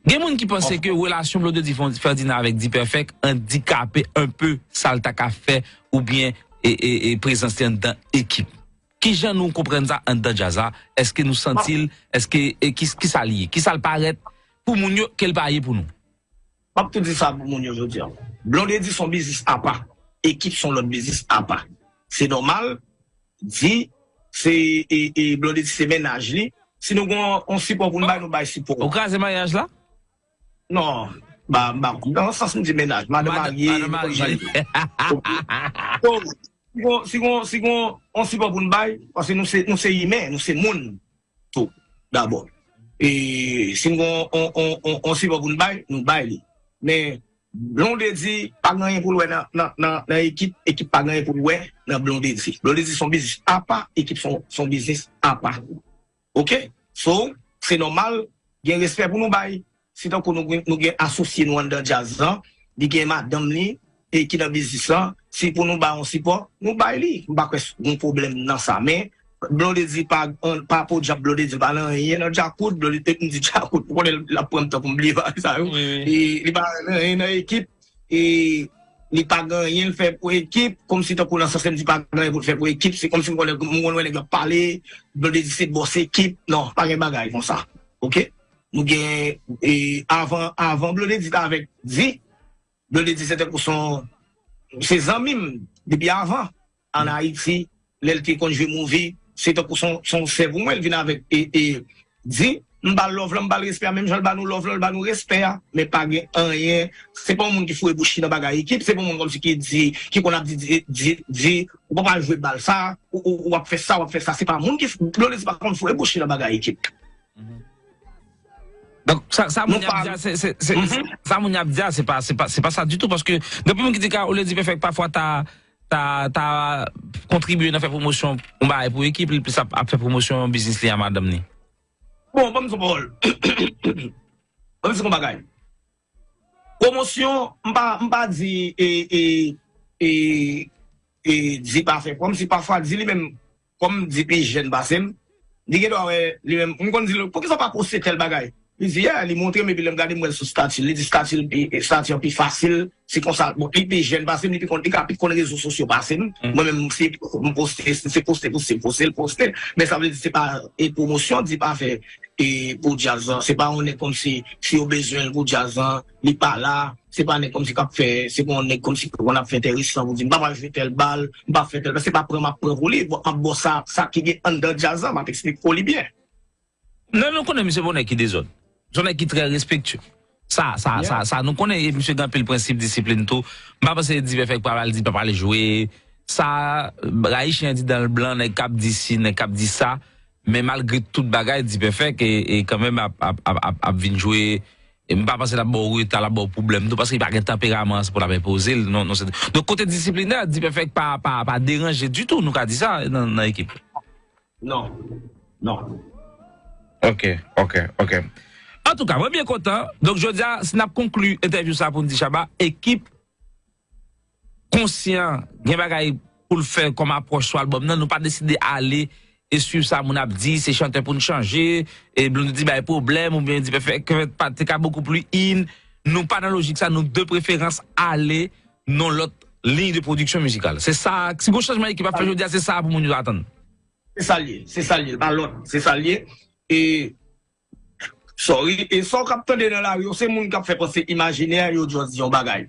Gen moun ki panse ke relasyon Blondedy Ferdinand avèk D-Perfect andikape enpe sa l ta ka fè oubyen prezans li anndan ekip. Kijan nou konprann sa anndan djaz la? Eske nou santi l? Eske kisa l ye? Kisa l parèt pou moun yo ke l pa ye pou nou? Map tou di sa pou moun yo jodi an. Blondedy son biznis apa, ekip son lòt biznis apa. Se nòmal di se Blondedy se mennaj li. Si nou gen yon sipò pou nou bay, nou bay sipò. Ou kraze maryaj la? Non, ba ba konprann nan sans m di mennaj, madan marye. Madan marye. Si gen yon sipò pou nou bay, paske nou se imen, nou se moun. tou dabò. E si n gen yon sipò pou n bay, nou bay li. Men Blondedy pa gen anyen pou l wè nan Ekip, Ekip pa gen anyen pou l wè nan Blondedy. Blondedy se yon biznis apa, Ekip se yon biznis apa. Ok! So, se nòmal gen respè pou nou bay. Se tankou nou gen asosye nou anndan djaz lan, li gen madanm li e ki nan biznis lan, se pou nou bay yon sipò, nou bay li. M pa kwè gen pwoblèm nan sa. Men, Blondedy pa, pa podyab Blondedy pa nan anyen nan Djakout, Blondedy, m di Djakout, ou konnen l ap pran m tan pou m bliye bagay sa yo. E li pa nan anyen nan ekip e li pa gen anyen l fè pou ekip, kòmsi tankou nan sans lè m di pa gen anyen pou l fè pou ekip, se kòmsi m konn lè, m konn wè nèg l ap pale, Blondedy se bòs ekip, non, pa gen bagay konsa. Oke? Nou gen e avan avan blondedy t avèk di blondedy se tankou son se zanmi m depi avan an ayiti lè l te konn jwe mouvi se tankou son son sè pou mwen l vin avèk e e di m ba l love lan m ba l respè a menm jan l ba nou love lan l ba nou respè a men pa gen anyen se pa yon moun ki foure bouch li nan bagay ekip se pa yon moun kòmsi ki di ki konn ap di di di di ou pap al jwe bal sa ou ou ou ap fè sa ou ap fè sa se pa moun ki blondedy pa konn foure bouch li nan bagay ekip. Sa moun yap di a se Sa moun yap di a se pa se pa se pa sa du tout paske depi moun ki di Carole Dipèfèk pafwa ta ta ta kontribye nan fè pwomosyon yon bagay pou ekip li plis ap fè pwomosyon biznis li a madanm ni. Bon banm di yon pawòl banm di yon bagay pwomosyon m pa m pa di e e e di pa fè pwòm si pafwa di li menm Kòm m di pi jèn pase m, li gen dwa wè li menm. M konn di l, poukisa w pa poste tèl bagay? Li di, yeah, li montre m epi lè m gade m wè l sou stati l. Li di stati l pi, stati an pi fasil, si konsa. Bon, li pi jèn pase m, li pi konn, li ka pi konn rezo sosyo pase m. Mwen menm, si m poste, si se poste pou si m poste, l poste. Men sa vle di se pa e pwomosyon Deep a fè e pou djaz lan. Se pa on nèg kòmsi si yo bezwen l pou djaz lan. li pa la, se pa nèg kòmsi k ap fè, se pa yon nèg kòmsi ki konn ap fè entèresan pou di m pa pral jwe tèl bal, m pa fè tèl, se pa pran m ap pran pou li, m ap ba w sa, sa ki gen anndan djaz la, m ap esplike w li byen. Lè nou konnen misye pa yon nèg ki dezòd, se yon nèg ki trè respektye. Sa, sa, sa, sa nou konnen e misye gen anpil prensip, disiplin tou. M pa panse Divèfèk pral al di l pa pral jwe. Sa, rayi chen an di dan l blan, nèg k ap di si, nèg k ap di sa, men malgre tout bagay Dipèfèk e kanmenm ap, ap, ap, ap vin jwe E m pa panse l ap ba w reta, l ap ba w pwoblèm tou paske li pa gen tanperaman an se pou l ap enpoze l non se donk kote disiplinè Dpèfèk pa pa deranje ditou nou ka di sa nan ekip la non non. Ok ok ok antouka mwen byen kontan donk jodi a si n ap konkli entèvyou sa pou n di Shabba ekip. konsyan gen bagay poul fè kòm apwòch sou albòm nan nou pa deside ale e swiv sa moun ap di se chantè poun chanje e Blondedy bay pwoblèm ou byen Dipèfè kvet pa te ka bokou pli in nou pa nan lojik sa nou de preferans ale nan lòt liy de pwodiksyon mizikal se sa si gon chanjman ekip ap fè jodia se sa pou moun yo atann. Se sa l ye, se sa l ye, l pa lòt, se sa l ye e sorry e sa w k ap tande nan lari yo se moun k ap fè panse imajinè yo just di yon bagay.